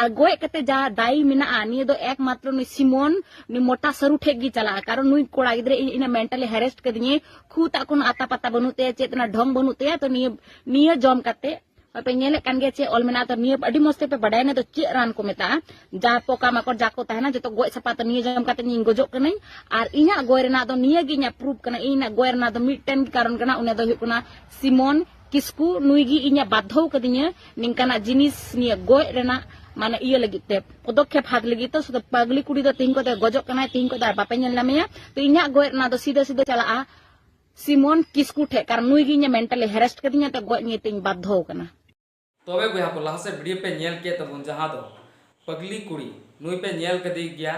ᱟᱨ ᱜᱚᱡ ᱠᱟᱛᱮ ᱡᱟ ᱫᱟᱭᱤ ᱢᱮᱱᱟᱜᱼᱟ ᱱᱤᱭᱟᱹ ᱫᱚ ᱮᱠᱢᱟᱛᱨᱚ ᱱᱩᱭ ᱥᱤᱢᱚᱱ ᱱᱩᱭ ᱢᱚᱴᱟ ᱥᱟᱹᱨᱩ ᱴᱷᱮᱡ ᱜᱮ ᱪᱟᱞᱟᱜᱼᱟ ᱠᱟᱨᱚᱱ ᱱᱩᱭ ᱠᱚᱲᱟ ᱜᱤᱫᱽᱨᱟᱹ ᱤᱧ ᱤᱱᱟᱹ ᱢᱮᱱᱴᱟᱞᱤ ᱦᱮᱨᱮᱥᱴ ᱠᱟᱹᱫᱤᱧᱮ ᱠᱷᱩ ᱛᱟᱜ ᱠᱳᱱᱳ ᱟᱛᱟ ᱯᱟᱛᱟ ᱵᱟᱹᱱᱩᱜ ᱛᱟᱭᱟ ᱪᱮᱫ ᱚᱱᱟ ᱰᱷᱚᱝ ᱵᱟᱹᱱᱩᱜ ᱛᱟᱭᱟ ᱛᱚ ᱱᱤᱭᱟᱹ ᱱᱤᱭᱟᱹ ᱡᱚᱢ ᱠᱟᱛᱮ ᱯᱮ ᱧᱮᱞᱮᱫ ᱠᱟᱱ ᱜᱮᱭᱟ ᱪᱮᱫ ᱚᱞ ᱢᱮᱱᱟᱜᱼᱟ ᱛᱚ ᱱᱤᱭᱟᱹ ᱟᱹᱰᱤ ᱢᱚᱡᱽ ᱛᱮᱯᱮ ᱵᱟᱰᱟᱭᱟ ᱱᱤᱭᱟᱹ ᱫᱚ ᱪᱮᱫ ᱨᱟᱱ ᱠᱚ ᱢᱮᱛᱟᱜᱼᱟ ᱡᱟ ᱯᱚᱠᱟ ᱢᱟᱠᱚᱲ ᱡᱟ ᱠᱚ ᱛᱟᱦᱮᱱᱟ ᱡᱚᱛᱚ ᱜᱚᱡ ᱥᱟᱯᱟ ᱛᱚ ᱱᱤᱭᱟᱹ ᱡᱚᱢ ᱠᱟᱛᱮ ᱤᱧ ᱜᱚᱡᱚᱜ ᱠᱟᱹᱱᱟᱹᱧ ᱟᱨ ᱤᱧᱟᱹᱜ ᱜᱚᱡ ᱨᱮᱱᱟᱜ ᱫᱚ ᱱᱤᱭᱟᱹ ᱜᱮ ᱤᱧᱟᱹᱜ ᱯᱨᱩᱯ ᱠᱟᱱᱟ ᱤᱧᱟᱹᱜ ᱜᱚᱡ ᱨᱮᱱᱟᱜ ᱫᱚ ᱢᱤᱫᱴᱮᱱ ᱠᱟᱨᱚᱱ ᱠᱟᱱᱟ ᱚᱱᱟ ᱫᱚ ᱦᱩᱭᱩᱜ ᱠᱟᱱᱟ ᱥᱤᱢᱚᱱ ᱠᱤᱥᱠᱩ ᱱᱩᱭ ᱜᱮ ᱤᱧᱟᱹᱜ ᱵᱟᱫᱷᱚᱣ ᱠᱟᱫᱤᱧᱟ ᱱᱤᱝᱠᱟᱱᱟᱜ ᱡᱤᱱᱤᱥ ᱱᱤᱭᱟᱹ ᱜᱚᱡ ᱨᱮᱱᱟᱜ ᱢᱟᱱᱮ ᱤᱭᱟᱹ ᱞᱟᱹᱜᱤᱫ ᱛᱮ ᱯᱚᱫᱚᱠᱷᱮᱯ ᱦᱟᱛ ᱞᱟᱹᱜᱤᱫ ᱛᱮ ᱥᱩᱫᱷᱩ ᱯᱟᱜᱽᱞᱤ ᱠᱩᱲᱤ ᱫᱚ ᱛᱤᱦᱤᱧ ᱠᱚᱫᱚ ᱜᱚᱡᱚᱜ ᱠᱟᱱᱟᱭ ᱛᱤᱦᱤᱧ ᱠᱚᱫᱚ ᱟᱨ ᱵᱟᱯᱮ ᱧᱮᱞ ᱧᱟᱢᱮᱭᱟ ᱛᱚ ᱤᱧᱟᱹᱜ ᱜᱚᱡ ᱨᱮᱱᱟᱜ ᱫᱚ ᱥᱤᱫᱷᱟᱹ ᱥᱤᱫᱷᱟᱹ ᱪᱟᱞᱟᱜᱼᱟ ᱥᱤᱢᱚᱱ ᱠᱤᱥᱠᱩ ᱴᱷᱮᱡ ᱠᱟᱨᱚᱱ ᱱᱩᱭ ᱜᱮ ᱤᱧᱟᱹᱜ ᱢᱮᱱᱴᱟᱞᱤ ᱦᱮᱨᱮᱥᱴ ᱠᱟᱫᱤᱧᱟ ᱛᱚ ᱜᱚᱡ ᱱᱤᱭᱟᱹ ᱛᱤᱧ ᱵᱟᱫᱷᱚᱣ ᱠᱟᱱᱟ ᱛᱚᱵᱮ ᱵᱚᱭᱦᱟ ᱠᱚ ᱞᱟᱦᱟ ᱥᱮᱫ ᱵᱷᱤᱰᱤᱭᱳ ᱯᱮ ᱧᱮᱞ ᱠᱮᱫ ᱛᱟᱵᱚᱱ ᱡᱟᱦᱟᱸ ᱫᱚ ᱯᱟᱜᱽᱞᱤ ᱠᱩᱲᱤ ᱱᱩᱭ ᱯᱮ ᱧᱮᱞ ᱠᱟᱫᱮ ᱜᱮᱭᱟ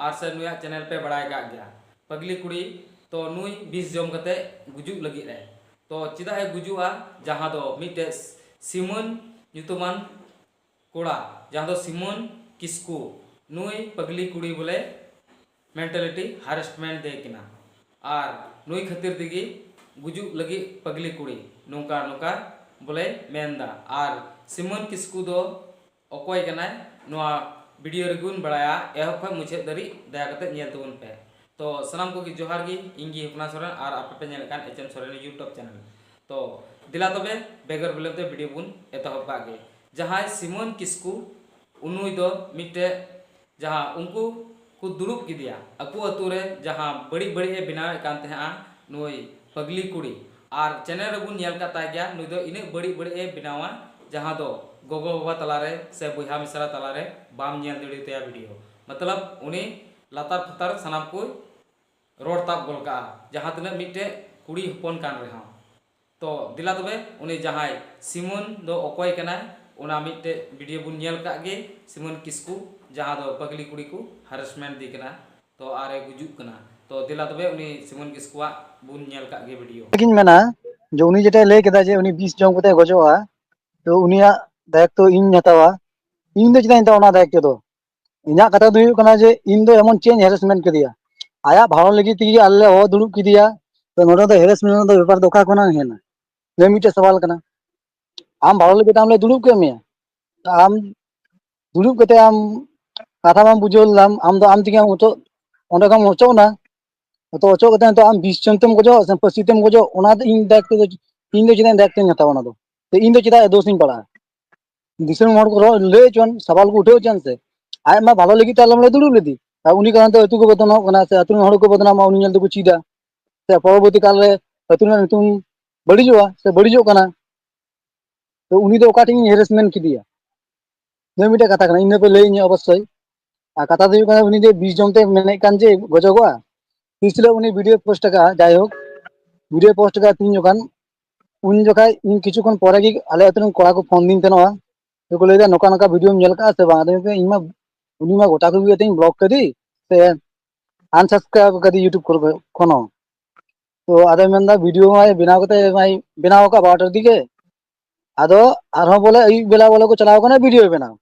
ᱟᱨ ᱥᱮ ᱱᱩᱭᱟᱜ ᱪᱮᱱᱮᱞ ᱯᱮ ᱵᱟᱲᱟᱭ ᱠᱟᱜ ᱜᱮᱭᱟ ᱯᱟᱜᱽᱞᱤ ᱠᱩᱲᱤ ᱛᱚ ᱱᱩᱭ ᱵᱤᱥ ᱡᱚᱢ ᱠᱟᱛᱮ ᱜᱩᱡᱩᱜ ᱞᱟᱹᱜᱤᱫ ᱮ ᱛᱚ ᱪᱮᱫᱟᱜ ᱮ ᱜᱩᱡᱩᱜᱼᱟ ᱡᱟᱦᱟᱸ ᱫᱚ ᱢᱤᱫᱴᱮᱡ ᱥᱤᱢᱚᱱ ᱧᱩᱛᱩᱢᱟᱱ ᱠᱚᱲᱟ ᱡᱟᱦᱟᱸ ᱫᱚ ᱥᱤᱢᱚᱱ ᱠᱤᱥᱠᱩ ᱱᱩᱭ ᱯᱟᱜᱽᱞᱤ ᱠᱩᱲᱤ ᱵᱚᱞᱮ ᱢᱮᱱᱴᱟᱞᱤᱴᱤ ᱦᱟᱨᱮᱥᱴᱢᱮᱱᱴ ᱫᱮ ᱠᱤᱱᱟ ᱟᱨ ᱱᱩᱭ ᱠᱷᱟᱹᱛᱤᱨ ᱛᱮᱜᱮ ᱜᱩᱡᱩᱜ ᱞᱟᱹᱜᱤᱫ ᱯᱟᱜᱽᱞᱤ ᱠᱩᱲᱤ ᱱᱚᱝᱠᱟ ᱱᱚᱝᱠᱟ ᱵᱚᱞᱮᱭ ᱢᱮᱱ ᱮᱫᱟ ᱟᱨ ᱥᱤᱢᱟᱹᱱ ᱠᱤᱥᱠᱩ ᱫᱚ ᱚᱠᱚᱭ ᱠᱟᱱᱟᱭ ᱱᱚᱣᱟ ᱵᱷᱤᱰᱤᱭᱳ ᱨᱮᱜᱮ ᱵᱚᱱ ᱵᱟᱲᱟᱭᱟ ᱮᱦᱚᱵ ᱠᱷᱚᱱ ᱢᱩᱪᱟᱹᱫ ᱫᱷᱟᱹᱨᱤᱡ ᱫᱟᱭᱟ ᱠᱟᱛᱮ ᱧᱮᱞ ᱛᱟᱵᱚᱱ ᱯᱮ ᱛᱚ ᱥᱟᱱᱟᱢ ᱠᱚᱜᱮ ᱡᱚᱦᱟᱨ ᱜᱮ ᱤᱧ ᱜᱮ ᱦᱚᱯᱱᱟ ᱥᱚᱨᱮᱱ ᱟᱨ ᱟᱯᱮ ᱯᱮ ᱧᱮᱞᱮᱫ ᱠᱟᱱ H M Soren YouTube channel ᱛᱚ ᱫᱮᱞᱟ ᱛᱚᱵᱮ ᱵᱮᱜᱚᱨ ᱵᱤᱞᱚᱢ ᱛᱮ ᱵᱷᱤᱰᱤᱭᱳ ᱵᱚᱱ ᱮᱛᱚᱦᱚᱵ ᱠᱟᱜ ᱜᱮ ᱡᱟᱦᱟᱸᱭ ᱥᱤᱢᱟᱹᱱ ᱠᱤᱥᱠᱩ ᱩᱱᱩᱭ ᱫᱚ ᱢᱤᱫᱴᱮᱡ ᱡᱟᱦᱟᱸ ᱩᱱᱠᱩ ᱠᱚ ᱫᱩᱲᱩᱵ ᱠᱮᱫᱮᱭᱟ ᱟᱠᱚ ᱟᱹᱛᱩ ᱨᱮ ᱡᱟᱦᱟᱸ ᱵᱟᱹᱲᱤᱡ ᱵᱟᱹᱲᱤᱡ ᱮ ᱵᱮᱱᱟᱣ ᱮᱫ ᱠᱟᱱ ᱛᱟᱦᱮᱸᱫᱼᱟ ᱱᱩᱭ ᱯᱷᱟᱹᱜᱽᱞᱤ ᱠᱩᱲᱤ ᱟᱨ ᱪᱮᱱᱮᱞ ᱨᱮᱵᱚᱱ ᱧᱮᱞ ᱟᱠᱟᱫ ᱛᱟᱭ ᱜᱮᱭᱟ ᱱᱩᱭ ᱫᱚ ᱤᱱᱟᱹᱜ ᱵᱟᱹᱲᱤᱡ ᱵᱟᱹᱲᱤᱡ ᱮ ᱵᱮᱱᱟᱣᱟ ᱡᱟᱦᱟᱸ ᱫᱚ ᱜᱚᱜᱚ ᱵᱟᱵᱟ ᱛᱟᱞᱟ ᱨᱮ ᱥᱮ ᱵᱚᱭᱦᱟ ᱢᱤᱥᱨᱟ ᱛᱟᱞᱟ ᱨᱮ ᱵᱟᱢ ᱧᱮᱞ ᱫᱟᱲᱮ ᱟᱛᱟᱭᱟ ᱵᱷᱤᱰᱤᱭᱳ ᱢᱚᱛᱞᱚᱵᱽ ᱩᱱᱤ ᱞᱟᱛᱟᱨ ᱯᱷᱟᱛᱟᱨ ᱥᱟᱱᱟᱢ ᱠᱚᱭ ᱨᱚᱲ ᱛᱟᱵ ᱜᱚᱫ ᱠᱟᱜᱼᱟ ᱡᱟᱦᱟᱸ ᱛᱤᱱᱟᱹᱜ ᱢᱤᱫᱴᱮᱱ ᱠᱩᱲᱤ ᱦᱚᱯᱚᱱ ᱠᱟᱱ ᱨᱮᱦᱚᱸ ᱛᱚ ᱫᱮᱞᱟ ᱛᱚᱵᱮ ᱩᱱᱤ ᱡᱟᱦᱟᱸᱭ ᱥᱤᱢᱚᱱ ᱫᱚ ᱚᱠᱚᱭ ᱠᱟᱱᱟᱭ ᱚᱱᱟ ᱢᱤᱫᱴᱮᱡ ᱵᱷᱤᱰᱤᱭᱳ ᱵᱚᱱ ᱧᱮᱞ ᱠᱟᱜ ᱜᱮ ᱥᱤᱢᱚᱱ ᱠᱤᱥᱠᱩ ᱡᱟᱦᱟᱸ ᱫᱚ ᱯᱟᱜᱽᱞᱤ ᱠᱩᱲᱤ ᱠᱚ ᱦᱟᱨᱮᱥᱢᱮᱱᱴ ᱫᱮ ᱠᱟᱱᱟ ᱛᱚ ᱟᱨ ᱮ ᱜᱩᱡᱩᱜ ᱠᱟᱱᱟ ᱛᱚ ᱫᱮᱞᱟ ᱛᱚᱵᱮ ᱩᱱᱤ ᱥᱤᱢᱚᱱ ᱠᱤᱥᱠᱩᱣᱟᱜ ᱵᱚᱱ ᱧᱮᱞ ᱠᱟᱜ ᱜᱮ ᱵᱷᱤᱰᱤᱭᱳ᱾ ᱜᱤᱧ ᱢᱮᱱᱟ ᱡᱮ ᱩᱱᱤ ᱡᱮᱴᱟᱭ ᱞᱟᱹᱭ ᱠᱮᱫᱟ ᱡᱮ ᱩᱱᱤ ᱵᱤᱥ ᱡᱚᱢ ᱠᱟᱛᱮ ᱜᱚᱡᱚᱜᱼᱟ ᱛᱚ ᱩᱱᱤᱭᱟᱜ ᱫᱟᱭᱤᱛᱛᱚ ᱤᱧᱤᱧ ᱦᱟᱛᱟᱣᱟ ᱤᱧ ᱫᱚ ᱪᱮᱫᱟᱜ ᱤᱧ ᱦᱟᱛᱟᱣᱟ ᱚᱱᱟ ᱫᱟᱭᱤᱛᱛᱚ ᱫᱚ ᱤᱧᱟᱹᱜ ᱠᱟᱛᱷᱟ ᱫᱚ ᱦᱩᱭᱩᱜ ᱠᱟᱱᱟ ᱡᱮ ᱤᱧ ᱫᱚ ᱮᱢᱚᱱ ᱪᱮᱫ ᱤᱧ ᱦᱮᱨᱮᱥᱢᱮᱱᱴ ᱠᱮᱫᱮᱭᱟ ᱟᱭᱟᱜ ᱵᱷᱟᱲᱚᱱ ᱞᱟᱹᱜᱤᱫ ᱛᱮᱜᱮ ᱟᱞᱮ ᱞᱮ ᱦᱚᱦᱚ ᱫᱩᱲᱩᱵ ᱠᱮᱫᱮᱭᱟ ᱛᱚ ᱱᱚᱸᱰᱮ ᱫᱚ ᱦᱮᱨᱮᱥᱢᱮᱱᱴ ᱨᱮᱱᱟᱜ ᱫᱚ ᱵᱮᱯᱟᱨ ᱫᱚ ᱚᱠᱟ ᱠᱷᱚᱱᱟᱜ ᱦᱮᱡ ᱮᱱᱟ ᱱᱤᱭᱟᱹ ᱢᱤᱫᱴᱮᱡ ᱥᱟᱣᱟᱞ ᱠᱟᱱᱟ ᱟᱢ ᱵᱷᱟᱲᱟ ᱞᱟᱹᱜᱤᱫ ᱛᱮ ᱟᱢ ᱞᱮ ᱫᱩᱲᱩᱵ ᱠᱮᱫ ᱢᱮᱭᱟ ᱛᱚ ᱟᱢ ᱫᱩᱲᱩᱵ ᱠᱟᱛᱮᱫ ᱟᱢ ᱠᱟᱛᱷᱟ ᱵᱟᱢ ᱵᱩᱡᱷᱟᱹᱣ ᱞᱮᱫᱟᱢ ᱟᱢ ᱫᱚ ᱟᱢ ᱛᱮᱜᱮ ᱚᱪᱚᱜ ᱚᱸᱰᱮ ᱠᱷᱚᱱᱮᱢ ᱚᱪᱚᱜ ᱮᱱᱟ ᱛᱚ ᱚᱪᱚᱜ ᱠᱟᱛᱮ ᱱᱤᱛᱚᱜ ᱟᱢ ᱵᱤᱥ ᱪᱚᱢ ᱛᱮᱢ ᱜᱚᱡᱚᱜ ᱥᱮ ᱯᱟᱹᱥᱤ ᱛᱮᱢ ᱜᱚᱡᱚᱜ ᱚᱱᱟ ᱫᱚ ᱤᱧ ᱫᱟᱭᱤᱛᱛᱚ ᱫᱚ ᱤᱧ ᱫᱚ ᱪᱮᱫᱟᱜ ᱫᱟᱭᱤᱛᱛᱚᱧ ᱦᱟᱛᱟᱣᱟ ᱚᱱᱟ ᱫᱚ ᱤᱧ ᱫᱚ ᱪᱮᱫᱟᱜ ᱫᱳᱥ ᱤᱧ ᱯᱟᱲᱟᱜᱼᱟ ᱫᱤᱥᱚᱢ ᱦᱚᱲ ᱠᱚ ᱨᱚᱲ ᱞᱟᱹᱭ ᱦᱚᱪᱚᱣᱟᱱ ᱥᱟᱣᱟᱞ ᱠᱚ ᱩᱴᱷᱟᱹᱣ ᱦᱚᱪᱚᱣᱟᱱ ᱥᱮ ᱟᱡ ᱢᱟ ᱵᱷᱟᱞᱚ ᱞᱟᱹᱜᱤᱫ ᱛᱮ ᱟᱞᱮ ᱞᱮ ᱫᱩᱲᱩᱵ ᱞᱮᱫᱮ ᱟᱨ ᱩᱱᱤ ᱠᱟᱨᱚᱱ ᱛᱮ ᱟᱹᱛᱩ ᱠᱚ ᱵᱚᱫᱱᱟᱢᱚᱜ ᱠᱟᱱᱟ ᱥᱮ ᱟᱹᱛᱩ ᱨᱮᱱ ᱦᱚᱲ ᱠᱚ ᱵᱚᱫᱱᱟᱢᱚᱜᱼᱟ ᱩᱱᱤ ᱧᱮᱞ ᱛᱮᱠᱚ ᱪᱮᱫᱟ ᱥᱮ ᱯᱚᱨᱚᱵᱚᱨᱛᱤ ᱠᱟᱞ ᱨᱮ ᱟᱹᱛᱩ ᱨᱮᱱᱟᱜ ᱧᱩᱛᱩᱢ ᱵᱟᱹᱲᱤᱡᱚᱜᱼᱟ ᱥᱮ ᱵᱟᱹᱲᱤᱡᱚᱜ ᱠᱟᱱᱟ ᱛᱚ ᱩᱱᱤ ᱫᱚ ᱚᱠᱟᱴᱷᱮᱱ ᱤᱧ ᱦᱮᱨᱮᱥᱢᱮᱱᱴ ᱠᱮᱫᱮᱭᱟ ᱱᱤᱭᱟᱹ ᱢᱤᱫᱴᱮᱡ ᱠᱟᱛᱷᱟ ᱠᱟᱱᱟ ᱤᱱᱟᱹ ᱯᱮ ᱞᱟᱹᱭ ᱤᱧᱟᱹ ᱚᱵᱚᱥᱥᱳᱭ ᱟᱨ ᱠᱟᱛᱷᱟ ᱫᱚ ᱦᱩᱭᱩᱜ ᱠᱟᱱᱟ ᱩᱱᱤ ᱡᱮ ᱵᱤᱥ ᱡᱚᱢ ᱛᱮ ᱢᱮᱱᱮᱫ ᱠᱟᱱ ᱡᱮ ᱜᱚᱡᱚᱜᱚᱜᱼᱟ ᱛᱤᱥ ᱦᱤᱞᱳᱜ ᱩᱱᱤ ᱵᱷᱤᱰᱭᱳ ᱯᱳᱥᱴ ᱟᱠᱟᱫᱼᱟ ᱡᱟᱭᱦᱳᱠ ᱵᱷᱤᱰᱭᱳ ᱯᱳᱥᱴ ᱟᱠᱟᱫᱼᱟ ᱛᱤᱦᱤᱧ ᱡᱚᱠᱷᱟᱱ ᱩᱱ ᱡᱚᱠᱷᱟᱡ ᱤᱧ ᱠᱤᱪᱷᱩ ᱠᱷᱚᱱ ᱯᱚᱨᱮ ᱜᱮ ᱟᱞᱮ ᱟᱛᱩ ᱨᱮᱱ ᱠᱚᱲᱟ ᱠᱚ ᱯᱷᱳᱱ ᱫᱤᱧ ᱛᱟᱦᱮᱱᱚᱜᱼᱟ ᱟᱫᱚ ᱠᱚ ᱞᱟᱹᱭ ᱫᱟ ᱱᱚᱠᱟ ᱱᱚᱠᱟ ᱵᱷᱤᱰᱭᱳᱢ ᱧᱮᱞ ᱠᱟᱜᱼᱟ ᱥᱮ ᱵᱟᱝ ᱟᱫᱚ ᱢᱮᱛᱟᱹᱧ ᱤᱧ ᱢᱟ ᱩᱱᱤ ᱢᱟ ᱜᱚᱴᱟ ᱠᱚ ᱛᱤᱧ ᱵᱞᱚᱠ ᱠᱟᱹᱫᱮ ᱥᱮ ᱟᱱᱥᱟᱵᱥᱠᱨᱟᱭᱤᱵ ᱠᱟᱫᱮ ᱤᱭᱩᱴᱩᱵᱽ ᱠᱚᱨᱮ ᱠᱷᱚᱡ ᱠᱷᱚᱱ ᱦᱚᱸ ᱛᱚ ᱟᱫᱚᱭ ᱢᱮᱱ ᱫᱟ ᱵᱷᱤᱰᱭᱳ ᱢᱟᱭ ᱵᱮᱱᱟᱣ ᱠᱟᱛᱮ ᱢᱟᱭ ᱵᱮᱱᱟᱣ ᱠᱟᱜ ᱵᱟᱨᱚᱴᱟ ᱫᱤᱜᱮ ᱟᱫᱚ ᱟᱨᱦᱚᱸ ᱵᱚᱞᱮ ᱟᱹᱭᱩᱵ ᱵᱮᱞᱟ ᱵᱚᱞᱮ ᱠᱚ ᱪᱟᱞᱟᱣ ᱠᱟᱱᱟ ᱵᱷᱤᱰᱭᱳ ᱵᱮᱱᱟᱣ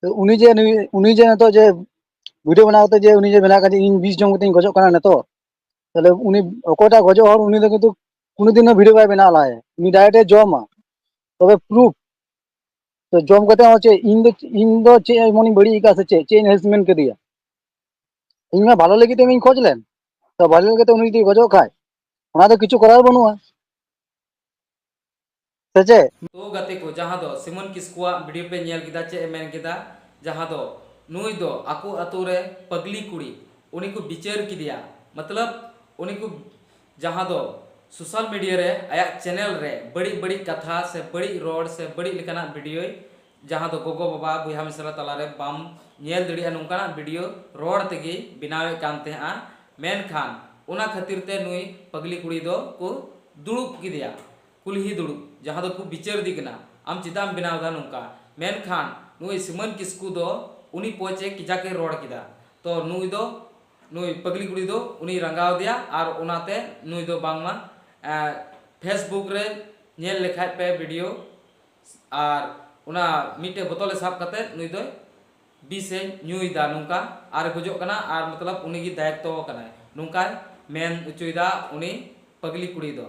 ᱛᱚ ᱩᱱᱤ ᱡᱮ ᱱᱩᱭ ᱩᱱᱤ ᱡᱮ ᱱᱤᱛᱚᱜ ᱡᱮ ᱵᱷᱤᱰᱭᱳ ᱵᱮᱱᱟᱣ ᱠᱟᱛᱮ ᱡᱮ ᱩᱱᱤ ᱡᱮ ᱢᱮᱱᱟᱭ ᱠᱟᱫᱮ ᱤᱧ ᱵᱤᱥ ᱡᱚᱢ ᱠᱟᱛᱮᱧ ᱜᱚᱡᱚᱜ ᱠᱟᱱᱟ ᱱᱤᱛᱚᱜ ᱛᱟᱦᱞᱮ ᱩᱱᱤ ᱚᱠᱚᱭᱴᱟᱜ ᱜᱚᱡᱚᱜ ᱦᱚᱲ ᱩᱱᱤ ᱫᱚ ᱠᱤᱱᱛᱩ ᱠᱳᱱᱳ ᱫᱤᱱ ᱦᱚᱸ ᱵᱷᱤᱰᱭᱳ ᱵᱟᱭ ᱵᱮᱱᱟᱣ ᱞᱟᱦᱟᱭᱟ ᱩᱱᱤ ᱰᱟᱭᱨᱮᱴ ᱮ ᱡᱚᱢᱟ ᱛᱚᱵᱮ ᱯᱨᱩᱯᱷ ᱛᱚ ᱡᱚᱢ ᱠᱟᱛᱮ ᱦᱚᱸ ᱪᱮᱫ ᱤᱧ ᱫᱚ ᱤᱧ ᱫᱚ ᱪᱮᱫ ᱮᱢᱚᱱᱤᱧ ᱵᱟᱹᱲᱤᱡ ᱟᱠᱟᱫᱼᱟ ᱥᱮ ᱪᱮᱫ ᱪᱮᱫ ᱤᱧ ᱦᱮᱨᱮᱥᱢᱮᱱᱴ ᱠᱮᱫᱮᱭᱟ ᱤᱧ ᱢᱟ ᱵᱷᱟᱞᱮ ᱞᱟᱹᱜᱤᱫ ᱛᱮᱜᱤᱧ ᱠᱷᱚᱡ ᱞᱮᱱ ᱛᱚ ᱵᱷᱟᱞᱮ ᱞᱟᱹᱜᱤᱫ ᱛᱮ ᱩᱱᱤ ᱡᱩᱫᱤ ᱜᱚᱡᱚᱜ ᱠᱷᱟᱡ ᱚᱱᱟ ᱫᱚ ᱠᱤᱪᱷᱩ ᱠᱚᱨᱟᱨ ᱵᱟᱹᱱᱩᱜᱼᱟ ᱥᱮ ᱪᱮᱫ? ᱳ ᱜᱟᱛᱮ ᱠᱚ ᱡᱟᱦᱟᱸ ᱫᱚ ᱥᱤᱢᱚᱱ ᱠᱤᱥᱠᱩᱣᱟᱜ ᱵᱷᱤᱰᱤᱭᱳ ᱯᱮ ᱧᱮᱞ ᱠᱮᱫᱟ ᱪᱮᱫ ᱮ ᱢᱮᱱ ᱠᱮᱫᱟ ᱡᱟᱦᱟᱸ ᱫᱚ ᱱᱩᱭ ᱫᱚ ᱟᱠᱚ ᱟᱛᱳ ᱨᱮ ᱯᱟᱜᱽᱞᱤ ᱠᱩᱲᱤ ᱩᱱᱤ ᱠᱚ ᱵᱤᱪᱟᱹᱨ ᱠᱮᱫᱮᱭᱟ ᱢᱚᱛᱞᱚᱵᱽ ᱩᱱᱤ ᱠᱚ ᱡᱟᱦᱟᱸ ᱫᱚ ᱥᱳᱥᱟᱞ ᱢᱤᱰᱤᱭᱟ ᱨᱮ ᱟᱭᱟᱜ ᱪᱮᱱᱮᱞ ᱨᱮ ᱵᱟᱹᱲᱤᱡ ᱵᱟᱹᱲᱤᱡ ᱠᱟᱛᱷᱟ ᱥᱮ ᱵᱟᱹᱲᱤᱡ ᱨᱚᱲ ᱥᱮ ᱵᱟᱹᱲᱤᱡ ᱞᱮᱠᱟᱱᱟᱜ ᱵᱷᱤᱰᱤᱭᱳᱭ ᱡᱟᱦᱟᱸ ᱫᱚ ᱜᱚᱜᱚ ᱵᱟᱵᱟ ᱵᱚᱭᱦᱟ ᱢᱤᱥᱨᱟ ᱛᱟᱞᱟ ᱨᱮ ᱵᱟᱢ ᱧᱮᱞ ᱫᱟᱲᱮᱭᱟᱜᱼᱟ ᱱᱚᱝᱠᱟᱱᱟᱜ ᱵᱷᱤᱰᱤᱭᱳ ᱨᱚᱲ ᱛᱮᱜᱮᱭ ᱵᱮᱱᱟᱣᱮᱫ ᱠᱟᱱ ᱛᱟᱦᱮᱸᱫᱼᱟ ᱢᱮᱱᱠᱷᱟᱱ ᱚᱱᱟ ᱠᱷᱟᱹᱛᱤᱨ ᱛᱮ ᱱᱩᱭ ᱯᱟᱜᱽᱞᱤ ᱠᱩᱲᱤ ᱫᱚ ᱠᱚ ᱫᱩᱲᱩᱵ ᱠᱮᱫᱮᱭᱟ ᱠᱩᱞᱦᱤ ᱫᱩᱲᱩᱵ ᱡᱟᱦᱟᱸ ᱫᱚ ᱠᱚ ᱵᱤᱪᱟᱹᱨᱫᱤ ᱠᱟᱱᱟ ᱟᱢ ᱪᱮᱫᱟᱜ ᱮᱢ ᱵᱮᱱᱟᱣ ᱮᱫᱟ ᱱᱚᱝᱠᱟ ᱢᱮᱱᱠᱷᱟᱱ ᱱᱩᱭ ᱥᱤᱢᱟᱹᱱ ᱠᱤᱥᱠᱩ ᱫᱚ ᱩᱱᱤ ᱯᱚᱪ ᱮ ᱠᱮᱡᱟᱠ ᱮ ᱨᱚᱲ ᱠᱮᱫᱟ ᱛᱚ ᱱᱩᱭ ᱫᱚ ᱱᱩᱭ ᱯᱟᱹᱜᱽᱞᱤ ᱠᱩᱲᱤ ᱫᱚ ᱩᱱᱤᱭ ᱨᱟᱸᱜᱟᱣ ᱟᱫᱮᱭᱟ ᱟᱨ ᱚᱱᱟᱛᱮ ᱱᱩᱭ ᱫᱚ ᱵᱟᱝᱢᱟ ᱯᱷᱮᱥᱵᱩᱠ ᱨᱮ ᱧᱮᱞ ᱞᱮᱠᱷᱟᱡ ᱯᱮ ᱵᱷᱤᱰᱤᱭᱳ ᱟᱨ ᱚᱱᱟ ᱢᱤᱫᱴᱮᱡ ᱵᱚᱛᱚᱞ ᱮ ᱥᱟᱵ ᱠᱟᱛᱮ ᱱᱩᱭ ᱫᱚᱭ ᱵᱤᱥ ᱮ ᱧᱩᱭᱮᱫᱟ ᱱᱚᱝᱠᱟ ᱟᱨ ᱜᱚᱡᱚᱜ ᱠᱟᱱᱟ ᱟᱨ ᱢᱚᱛᱞᱚᱵ ᱩᱱᱤ ᱜᱮ ᱫᱟᱭᱤᱛᱛᱚ ᱠᱟᱱᱟᱭ ᱱᱚᱝᱠᱟᱭ ᱢᱮᱱ ᱚᱪᱚᱭᱮᱫᱟ ᱩᱱᱤ ᱯᱟᱹᱜᱽᱞᱤ ᱠᱩᱲᱤ ᱫᱚ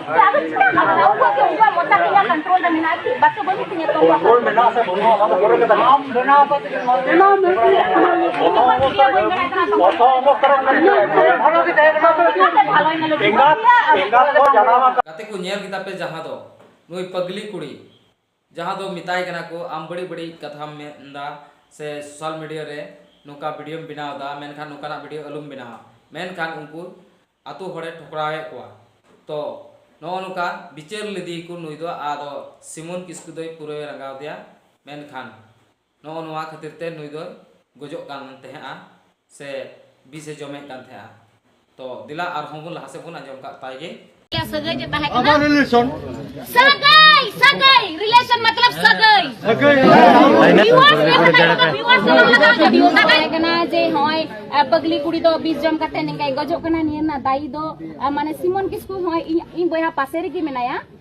ᱜᱟᱛᱮ ᱠᱚ ᱧᱮᱞ ᱠᱮᱫᱟ ᱯᱮ ᱡᱟᱦᱟᱸ ᱫᱚ ᱱᱩᱭ ᱯᱟᱜᱽᱞᱤ ᱠᱩᱲᱤ ᱡᱟᱦᱟᱸ ᱫᱚ ᱢᱮᱛᱟᱭ ᱠᱟᱱᱟ ᱠᱚ ᱟᱢ ᱵᱟᱹᱲᱤᱡ ᱵᱟᱹᱲᱤᱡ ᱠᱟᱛᱷᱟᱢ ᱢᱮᱱ ᱮᱫᱟ ᱥᱮ ᱥᱳᱥᱟᱞ ᱢᱤᱰᱤᱭᱟ ᱨᱮ ᱱᱚᱝᱠᱟ ᱵᱷᱤᱰᱤᱭᱳᱢ ᱵᱮᱱᱟᱣ ᱮᱫᱟ ᱢᱮᱱᱠᱷᱟᱱ ᱱᱚᱝᱠᱟᱱᱟᱜ ᱵᱷᱤᱰᱤᱭᱳ ᱟᱞᱚᱢ ᱵᱮᱱᱟᱣᱟ ᱢᱮᱱᱠᱷᱟᱱ ᱩᱱᱠᱩ ᱟᱹᱛᱩ ᱦᱚᱲᱮ ᱴᱷᱚᱠᱨᱟᱣᱮᱫ ᱠᱚᱣᱟ ᱛᱚ ᱱᱚᱜᱼᱚ ᱱᱚᱝᱠᱟ ᱵᱤᱪᱟᱹᱨ ᱞᱮᱫᱮᱭᱟᱠᱚ ᱱᱩᱭ ᱫᱚ ᱟᱫᱚ ᱥᱤᱢᱚᱱ ᱠᱤᱥᱠᱩ ᱫᱚᱭ ᱯᱩᱨᱟᱹᱭ ᱨᱟᱸᱜᱟᱣ ᱟᱫᱮᱭᱟ ᱢᱮᱱᱠᱷᱟᱱ ᱱᱚᱜᱼᱚ ᱱᱚᱣᱟ ᱠᱷᱟᱹᱛᱤᱨ ᱛᱮ ᱱᱩᱭ ᱫᱚᱭ ᱜᱚᱡᱚᱜ ᱠᱟᱱ ᱛᱟᱦᱮᱸᱫᱼᱟ ᱥᱮ ᱵᱤᱥ ᱮ ᱡᱚᱢᱮᱫ ᱠᱟᱱ ᱛᱟᱦᱮᱸᱫᱼᱟ ᱛᱚ ᱫᱮᱞᱟ ᱟᱨ ᱦᱚᱸ ᱵᱚᱱ ᱞᱟᱦᱟ ᱥᱮᱫ ᱵᱚᱱ ᱟᱸᱡᱚᱢ ᱠᱟᱜ ᱛᱟᱭ ᱜᱮ ᱥᱟᱹᱜᱟᱹᱭ ᱡᱮ ᱛᱟᱦᱮᱸ ᱠᱟᱱᱟ ᱟᱵᱟᱨ ᱨᱤᱞᱮᱥᱚᱱ ᱥᱟᱹᱜᱟᱹᱭ ᱥᱟᱹᱜᱟᱹᱭ ᱨᱤᱞᱮᱥᱚᱱ ᱢᱚᱛᱞᱚᱵ ᱥᱟᱹᱜᱟᱹᱭ ᱥᱟᱹᱜᱟᱹᱭ ᱵᱤᱣᱟᱨᱥ ᱵᱤᱣᱟᱨᱥ ᱵᱤᱣᱟᱨᱥ ᱛᱟᱦᱮᱸ ᱠᱟᱱᱟ ᱡᱮ ᱦᱚᱸᱭ ᱯᱟᱜᱞᱤ ᱠᱩᱲᱤ ᱫᱚ ᱵᱤᱥ ᱡᱚᱢ ᱠᱟᱛᱮ ᱱᱤᱝᱠᱟᱭ ᱜᱚᱡᱚᱜ ᱠᱟᱱᱟ ᱱᱤᱭᱟᱹ ᱨᱮᱱᱟᱜ ᱫᱟᱭᱤ ᱫᱚ ᱢᱟᱱᱮ ᱥᱤᱢᱚᱱ ᱠᱤᱥᱠᱩ ᱦᱚᱸ ᱤᱧ ᱤᱧ ᱵᱚᱭᱦᱟ ᱯᱟᱥᱮ ᱨᱮᱜᱮ ᱢᱮᱱᱟᱭᱟ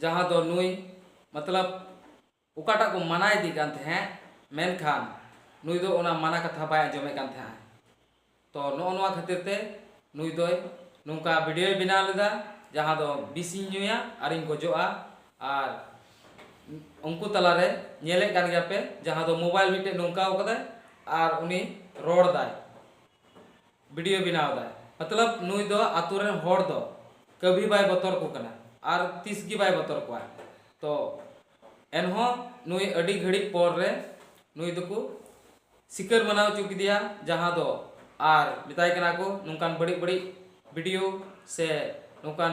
ᱡᱟᱦᱟᱸ ᱫᱚ ᱱᱩᱭ ᱢᱚᱛᱞᱚᱵᱽ ᱚᱠᱟᱴᱟᱜ ᱠᱚ ᱢᱟᱱᱟ ᱮᱫᱮ ᱠᱟᱱ ᱛᱟᱦᱮᱸᱫ ᱢᱮᱱᱠᱷᱟᱱ ᱱᱩᱭ ᱫᱚ ᱚᱱᱟ ᱢᱟᱱᱟ ᱠᱟᱛᱷᱟ ᱵᱟᱭ ᱟᱸᱡᱚᱢᱮᱫ ᱠᱟᱱ ᱛᱟᱦᱮᱸᱫ ᱛᱚ ᱱᱚᱜᱼᱚ ᱱᱚᱣᱟ ᱠᱷᱟᱹᱛᱤᱨ ᱛᱮ ᱱᱩᱭ ᱫᱚᱭ ᱱᱚᱝᱠᱟ ᱵᱷᱤᱰᱤᱭᱳᱭ ᱵᱮᱱᱟᱣ ᱞᱮᱫᱟ ᱡᱟᱦᱟᱸ ᱫᱚ ᱵᱤᱥ ᱤᱧ ᱧᱩᱭᱟ ᱟᱨᱤᱧ ᱜᱚᱡᱚᱜᱼᱟ ᱟᱨ ᱩᱱᱠᱩ ᱛᱟᱞᱟ ᱨᱮ ᱧᱮᱞᱮᱫ ᱠᱟᱱ ᱜᱮᱭᱟ ᱯᱮ ᱡᱟᱦᱟᱸ ᱫᱚ ᱢᱳᱵᱟᱭᱤᱞ ᱢᱤᱫᱴᱮᱱ ᱱᱚᱝᱠᱟᱣ ᱠᱟᱫᱟᱭ ᱟᱨ ᱩᱱᱤ ᱨᱚᱲ ᱮᱫᱟᱭ ᱵᱤᱰᱤᱭᱳ ᱵᱮᱱᱟᱣ ᱮᱫᱟᱭ ᱢᱚᱛᱞᱚᱵ ᱱᱩᱭ ᱫᱚ ᱟᱹᱛᱩ ᱨᱮᱱ ᱦᱚᱲ ᱫᱚ ᱠᱟᱹᱵᱷᱤ ᱵᱟᱭ ᱵᱚᱛᱚᱨ ᱟᱠᱚ ᱠᱟᱱᱟ ᱟᱨ ᱛᱤᱥ ᱜᱮ ᱵᱟᱭ ᱵᱚᱛᱚᱨ ᱠᱚᱣᱟ ᱛᱚ ᱮᱱᱦᱚᱸ ᱱᱩᱭ ᱟᱹᱰᱤ ᱜᱷᱟᱹᱲᱤᱡ ᱯᱚᱨ ᱨᱮ ᱱᱩᱭ ᱫᱚᱠᱚ ᱥᱤᱠᱟᱹᱨ ᱢᱟᱱᱟᱣ ᱦᱚᱪᱚ ᱠᱮᱫᱮᱭᱟ ᱡᱟᱦᱟᱸ ᱫᱚ ᱟᱨ ᱢᱮᱛᱟᱭ ᱠᱟᱱᱟ ᱠᱚ ᱱᱚᱝᱠᱟᱱ ᱵᱟᱹᱲᱤᱡ ᱵᱟᱹᱲᱤᱡ ᱵᱤᱰᱤᱭᱳ ᱥᱮ ᱱᱚᱝᱠᱟᱱ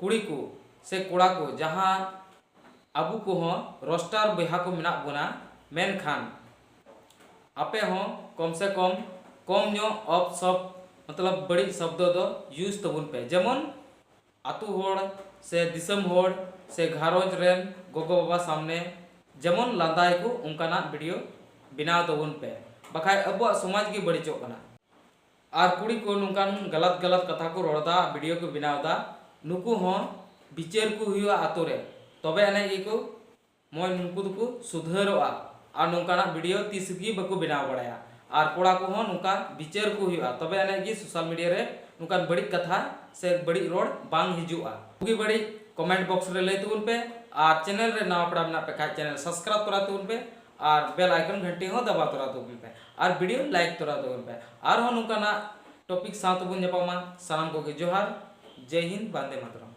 ᱠᱩᱲᱤ ᱠᱚ ᱥᱮ ᱠᱚᱲᱟ ᱠᱚ ᱡᱟᱦᱟᱸ ᱟᱵᱚ ᱠᱚᱦᱚᱸ ᱨᱚᱥᱴᱟᱨ ᱵᱚᱭᱦᱟ ᱠᱚ ᱢᱮᱱᱟᱜ ᱵᱚᱱᱟ ᱢᱮᱱᱠᱷᱟᱱ ᱟᱯᱮ ᱦᱚᱸ ᱠᱚᱢ ᱥᱮ ᱠᱚᱢ ᱠᱚᱢ ᱧᱚᱜ ᱚᱯ ᱥᱚᱯ ᱢᱚᱛᱞᱚᱵ ᱵᱟᱹᱲᱤᱡ ᱥᱚᱵᱽᱫᱚ ᱫᱚ ᱭᱩᱡᱽ ᱛᱟᱵᱚᱱ ᱯᱮ ᱡᱮᱢᱚᱱ ᱟᱹᱛᱩ ᱦᱚᱲ ᱥᱮ ᱫᱤᱥᱚᱢ ᱦᱚᱲ ᱥᱮ ᱜᱷᱟᱨᱚᱸᱡᱽ ᱨᱮᱱ ᱜᱚᱜᱚ ᱵᱟᱵᱟ ᱥᱟᱢᱱᱮ ᱡᱮᱢᱚᱱ ᱞᱟᱸᱫᱟᱭ ᱠᱚ ᱚᱱᱠᱟᱱᱟᱜ ᱵᱷᱤᱰᱤᱭᱳ ᱵᱮᱱᱟᱣ ᱛᱟᱵᱚᱱ ᱯᱮ ᱵᱟᱠᱷᱟᱡ ᱟᱵᱚᱣᱟᱜ ᱥᱚᱢᱟᱡᱽ ᱜᱮ ᱵᱟᱹᱲᱤᱡᱚᱜ ᱠᱟᱱᱟ᱾ ᱟᱨ ᱠᱩᱲᱤ ᱠᱚ ᱱᱚᱝᱠᱟᱱ ᱜᱟᱞᱟᱛ ᱜᱟᱞᱟᱛ ᱠᱟᱛᱷᱟ ᱠᱚ ᱨᱚᱲ ᱫᱟ ᱟᱨ ᱵᱷᱤᱰᱤᱭᱳ ᱠᱚ ᱵᱮᱱᱟᱣ ᱫᱟ ᱱᱩᱠᱩ ᱦᱚᱸ ᱵᱤᱪᱟᱹᱨ ᱠᱚ ᱦᱩᱭᱩᱜᱼᱟ ᱟᱛᱳ ᱨᱮ ᱛᱚᱵᱮ ᱟᱱᱮᱡ ᱜᱮ ᱠᱚ ᱢᱚᱡᱽ ᱱᱩᱠᱩ ᱫᱚ ᱠᱚ ᱥᱩᱫᱷᱟᱹᱨᱚᱜᱼᱟ ᱟᱨ ᱱᱚᱝᱠᱟᱱᱟᱜ ᱵᱷᱤᱰᱤᱭᱳ ᱛᱤᱥ ᱜᱮ ᱵᱟᱠᱚ ᱵᱮᱱᱟᱣ ᱵᱟᱲᱟᱭᱟ ᱟᱨ ᱠᱚᱲᱟ ᱠᱚ ᱦᱚᱸ ᱱᱚᱝᱠᱟ ᱵᱤᱪᱟᱹᱨ ᱠᱚ ᱦᱩᱭᱩᱜᱼᱟ ᱛᱚᱵᱮ ᱟᱱᱮᱡ ᱜᱮ ᱥᱳᱥᱟᱞ ᱢᱤᱰᱤᱭᱟ ᱨᱮ ᱱᱚᱝᱠᱟᱱ ᱵᱟᱹᱲᱤᱡ ᱠᱟᱛᱷᱟ ᱥᱮ ᱵᱟᱹᱲᱤᱡ ᱨᱚᱲ ᱵᱟᱝ ᱦᱤᱡᱩᱜᱼᱟ ᱵᱩᱜᱤ ᱵᱟᱹᱲᱤᱡ ᱠᱚᱢᱮᱱᱴ ᱵᱚᱠᱥ ᱨᱮ ᱞᱟᱹᱭ ᱛᱟᱵᱚᱱ ᱯᱮ ᱟᱨ ᱪᱮᱱᱮᱞ ᱨᱮ ᱱᱟᱣᱟ ᱯᱮᱲᱟ ᱢᱮᱱᱟᱜ ᱯᱮ ᱠᱷᱟᱡ ᱪᱮᱱᱮᱞ ᱥᱟᱵᱥᱠᱨᱟᱭᱤᱵᱽ ᱠᱚᱨᱟᱣ ᱛᱟᱵᱚᱱ ᱯᱮ ᱟᱨ ᱵᱮᱞ ᱟᱭᱠᱚᱱ ᱜᱷᱟᱹᱴᱤ ᱦᱚᱸ ᱫᱟᱵᱟᱣ ᱛᱚᱨᱟ ᱛᱟᱵᱚᱱ ᱯᱮ ᱟᱨ ᱵᱷᱤᱰᱤᱭᱳ ᱞᱟᱭᱤᱠ ᱛᱚᱨᱟ ᱛᱟᱵᱚᱱ ᱯᱮ ᱟᱨᱦᱚᱸ ᱱᱚᱝᱠᱟᱱᱟᱜ ᱴᱚᱯᱤᱠ ᱥᱟᱶ ᱛᱮᱵᱚᱱ ᱧᱟᱯᱟᱢᱟ ᱥᱟᱱᱟᱢ ᱠᱚᱜᱮ ᱡᱚᱦᱟᱨ ᱡᱮᱭ ᱦᱤᱱᱫ ᱵᱟᱱᱫᱮ ᱢᱟᱛᱚᱨᱚᱢ